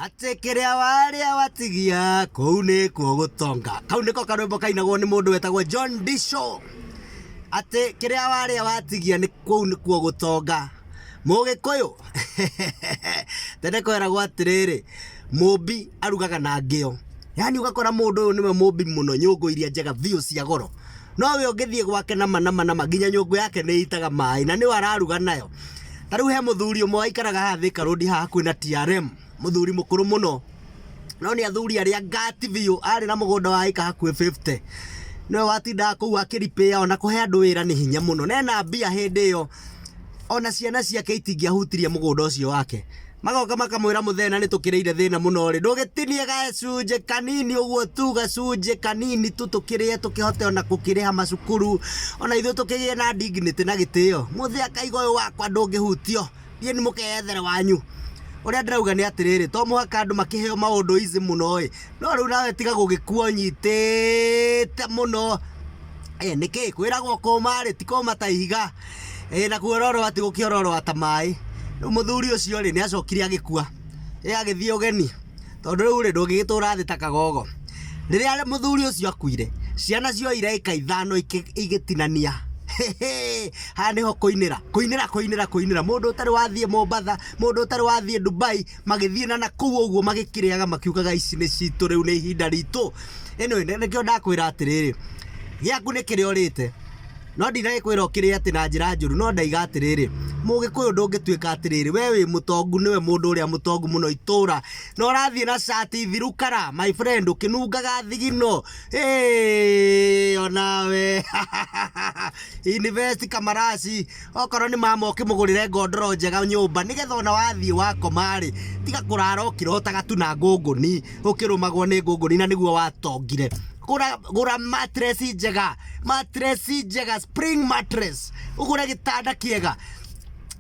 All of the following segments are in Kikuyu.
Atĩ kĩrĩa warĩa watigia kũu nĩkuo gũtonga. Kau nĩko karwĩmbo kainagwo nĩ mũndũ wetagwo John Disho. Atĩ kĩrĩa warĩa watigia nĩ kũu nĩkuo gũtonga. Mũgĩkũyũ tene kweragwo atĩrĩrĩ, mũmbi arugaga na ngĩo. Yaani ũgakora mũndũ ũyũ nĩwe mũmbi mũno, nyũngũ iria njega biũ cia goro. no we ũngĩthiĩ gwake na manama nama nginya nyũngũ yake nĩ ĩitaga maĩ na nĩwe araruga nayo ta rĩu he mũthuri ũmwe waikaraga haha Thika Road haha kwĩna TRM mũthuri mũkũrũ mũno no nĩ athuri arĩa ngati biũ arĩ na mũgũnda wa ĩka hakuhĩ 50 nĩwe watindaga kũu akĩripĩa ona kũhe andũ wĩra nĩ hinya mũno na ena mbia hĩndĩ ĩyo ona ciana ciake itingĩahutirie mũgũnda ũcio wake magoka makamwĩra mũthena nĩ tũkĩrĩire thĩna mũno rĩ ndũgĩtinie gacunjĩ kanini ũguo tu gacunjĩ kanini tu tũkĩrĩe tũkĩhote ona gũkĩrĩha macukuru ona ithuĩ tũkĩgĩe na dignity na gĩtĩo mũthĩ akaiga ũyũ wakwa ndũngĩhutio thiĩ nĩ mũkeyethere wanyu ũrĩa ndĩrauga nĩ atĩrĩrĩ to mũhaka andũ makĩheo maũndũ izi mũno ĩ no rĩu nawe tiga gũgĩkuo nyitĩte mũno Ĩ nĩkĩ kwĩragwo kũũma rĩ ti kũũma ta ihiga, ĩ na kuororoa ti gũkĩororoa ta maĩ. Rĩu mũthuri ũcio rĩ nĩ acokire agĩkua, ĩ agĩthiĩ ũgeni tondũ rĩu rĩ ndũngĩgĩtũra thĩ ta kagogo. Rĩrĩa mũthuri ũcio akuire ciana cioire ĩka ithano igĩtinania, hĩhĩ haha nĩho kũinĩra, kũinĩra, kũinĩra, kũinĩra, mũndũ ũtarĩ wathiĩ Mombatha, mũndũ ũtarĩ wathiĩ Ndubai. magĩthiĩ na na kũu ũguo magĩkĩrĩaga makiugaga ici nĩ citũ rĩu nĩ ihinda ritũ anyway nĩ- nĩkĩo ndakwĩra atĩrĩrĩ gĩaku nĩ kĩrĩa ũrĩte no ndinagĩkwĩra ũkĩrĩ atĩ na njĩra njũru no ndaiga atĩrĩrĩ mũgĩkũyũ ndũngĩtuĩka atĩrĩrĩ we wĩ mũtongu nĩwe mũndũ ũrĩa mũtongu mũno itũra na ũrathiĩ na cati thiru kara my friend ũkĩnungaga thigino Hey, onawe invest kamaraci Okorwo nĩ mama ũkĩmũgũrĩre ngondoro njega nyũmba nĩgetha ona wathiĩ wakoma-rĩ, tiga kũrara ũkĩrotaga tu na ngũngũni, ũkĩrũmagwo nĩ ngũngũni na nĩguo watongire. Gũra, gũra mattress njega, mattress njega, spring mattress, ũgũre gĩtanda kĩega.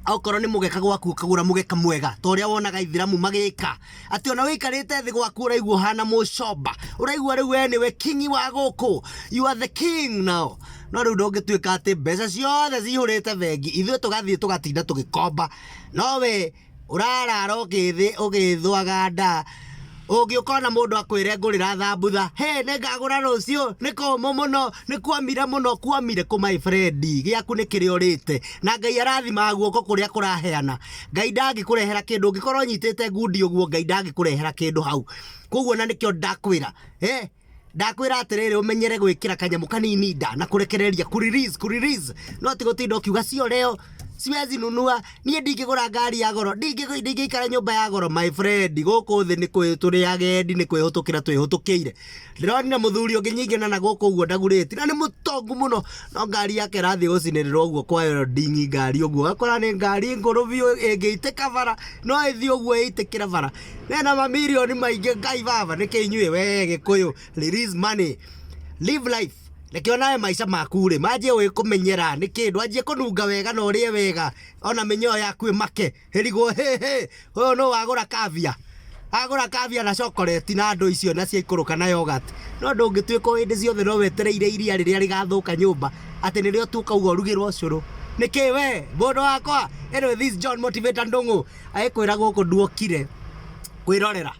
Okorwo nĩ mũgeka gwaku ũkagũra mũgeka mwega ta ũrĩa wonaga Aithĩramu magĩka. Atĩ ona wĩikarĩte thĩ gwaku ũraigua ũhana mũcomba. Ũraigua rĩu we nĩwe kingi wa gũkũ. You are the king now. No rĩu ndũngĩtuĩka atĩ mbeca ciothe cihũrĩte bengi ithuĩ tũgathiĩ tũgatinda tũgĩkomba. No we ũrarara ũgĩthĩ ũgĩthũaga nda. Ũngĩ ũkona mũndũ akwĩre ngũrĩra thambutha. Hĩ nĩ ngagũra rũciũ, nĩ kũmũ mũno, nĩ kuomire mũno. Kuomire kũ my friend? Gĩaku nĩ kĩrĩa ũrĩte. Na Ngai arathimaga guoko kũrĩa kũraheana. Ngai ndangĩkũrehera kĩndũ ũngĩkorwo ũnyitĩte ngundi ũguo Ngai ndangĩkũrehera kĩndũ hau. Koguo na nĩkĩo ndakwĩra eh, ndakwĩra atĩrĩrĩ ũmenyere gwĩkĩra kanyamũ kanini nda na kũrekereria ku release ku release no ti gũtinda ũkiuga sio leo siwezi nunua niĩ ndingĩgũra ngari ya goro ndingĩ- ndingĩikara nyũmba ya goro my friend gũkũ thĩ nĩ kwĩ tũrĩ agendi nĩ kwĩhũtũkĩra twĩhũtũkĩire Ndĩronire mũthuri ũngĩ nyingĩ na na gũkũ ũguo ndagurĩti na nĩ mũtongu mũno no ngari yake ĩrathiĩ gũcinĩrĩrwo ũguo kwa ĩyo ndingi ngari ũguo ũgakora nĩ ngari ngũrũ biũ ĩngĩitĩka bara no ĩthiĩ ũguo ĩitĩkĩre bara na ĩna mamirioni maingĩ ngai baba nĩkĩ inyuĩ we gĩkũyũ release money live life reke onawe maica maku rĩ manjie ũĩ kũmenyera nĩkĩ ndwanjie kũnunga wega na ũrĩe wega ona mĩnyoo yaku ĩmake Hĩrigwo hĩ hĩ, ũyũ nũ wagũra kavia? Agũra kavia na cokoreti na ndũ icio na ciaikũrũka na yoghurt. No ndũngĩtuĩka o hĩndĩ ciothe no wetereire iria rĩrĩa rĩgathũka nyũmba atĩ nĩrĩo tu ũkauga ũrugĩrwo cũrũ. Nĩkĩ we mũndũ wakwa? Anyway this John Motivator Ndũng'ũ agĩkwĩra gũkũ nduokire kwĩrorera.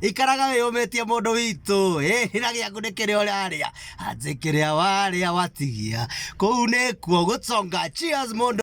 ikaraga wĩyũmĩtie mũndũ witũ hĩhĩra gĩaku nĩ kĩrĩa ũrarĩa anjĩ kĩrĩa warĩa watigia kũu nĩkuo gũconga cheers mũndũ